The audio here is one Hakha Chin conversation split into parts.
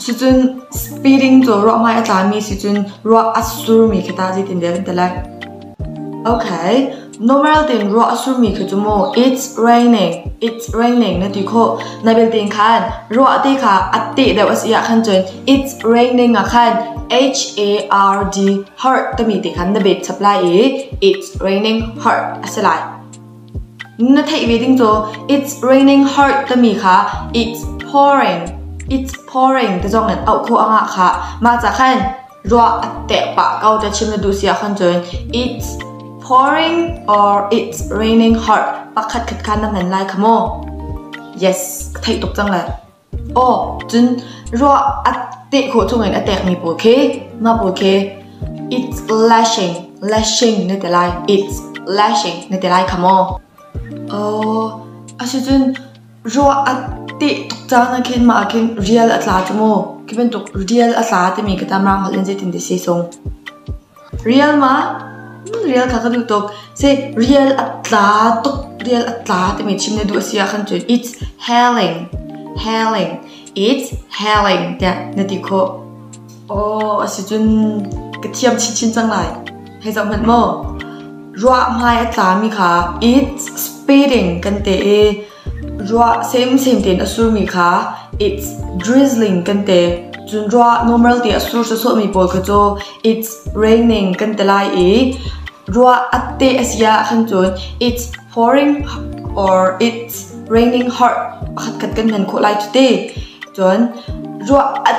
Cucun speeding cu ruah hmai a tlami sicun ruah a surmi khi tah zeitindah kan ti lai? Okay, normal tein ruah a surmi khi cu maw it's raining, it's raining na ti khawh. Na belte khan ruah te kha a teh deuh a si ahkhan cun it's raining ahkhan H-A-R-D, hurt timi te khan na bet chap lai i it's raining, hurt a si lai. Na theih ve ding caw "It's raining hard" timi kha "It's pouring", "It's pouring" ti zong in auh khawh a ngah khah. Mah cah khan ruah a teh pah ko ti chim na duh si ah khon cun "It's pouring" or "It's raining hard" pakhatkhat kha na hman lai kha maw? Yes, ka theih tuk cang le. Cun ruah a teh khawh chungin a tekmi pawl khi mah pawl khi "It's lashing, lashing" na ti lai. "It's lashing" na ti lai kha maw? Asicun ruah a teh tuk caan ahkhin mah ahkhin rial a tla cu maw? Khi bantuk rial a tla timi ka tam rang holh in zeitin dah a si sung? Rial ma? Rial kha ka duh tuk. Seh, rial a tla tuk. Rial a tla timi chim na duh a si ahkhan cun it's hailing. Hailing. It's hailing tiah na ti khawh. Aw, a si cun ka thiam chinchin cang lai. Hei zoh hmanh maw. Ruah hmai a tlami kha it's speeding kan ti i Ruah semsem tein a surmi kha it's drizzling kan ti. Cun ruah normal ti a sur sawsawhmi pawl kha cu it's raining kan ti lai i ruah a te a si ahkhan cun it's pouring or it's raining hot pakhatkhat kan hman khawh lai cuti. Cun ruah a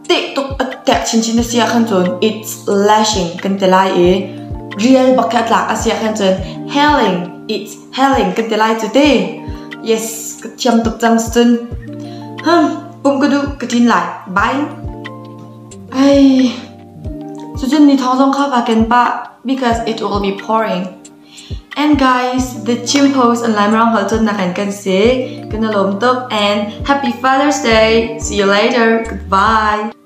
teh tuk a tek chinchin a si ahkhan cun it's lashing kan ti lai i rial bak khi a tlak a si ahkhan cun hailing it's Helen ka ti lai cu te. Yes, ka thiam tuk cang cun. Hum, pum ka duh ka tlin lai. Bye. Ai. Sujun ni thawng zong kha ka ken pa because it will be pouring. And guys, the team post online round hal cun nak kan se. Kena lom tuk and happy Father's Day. See you later. Goodbye.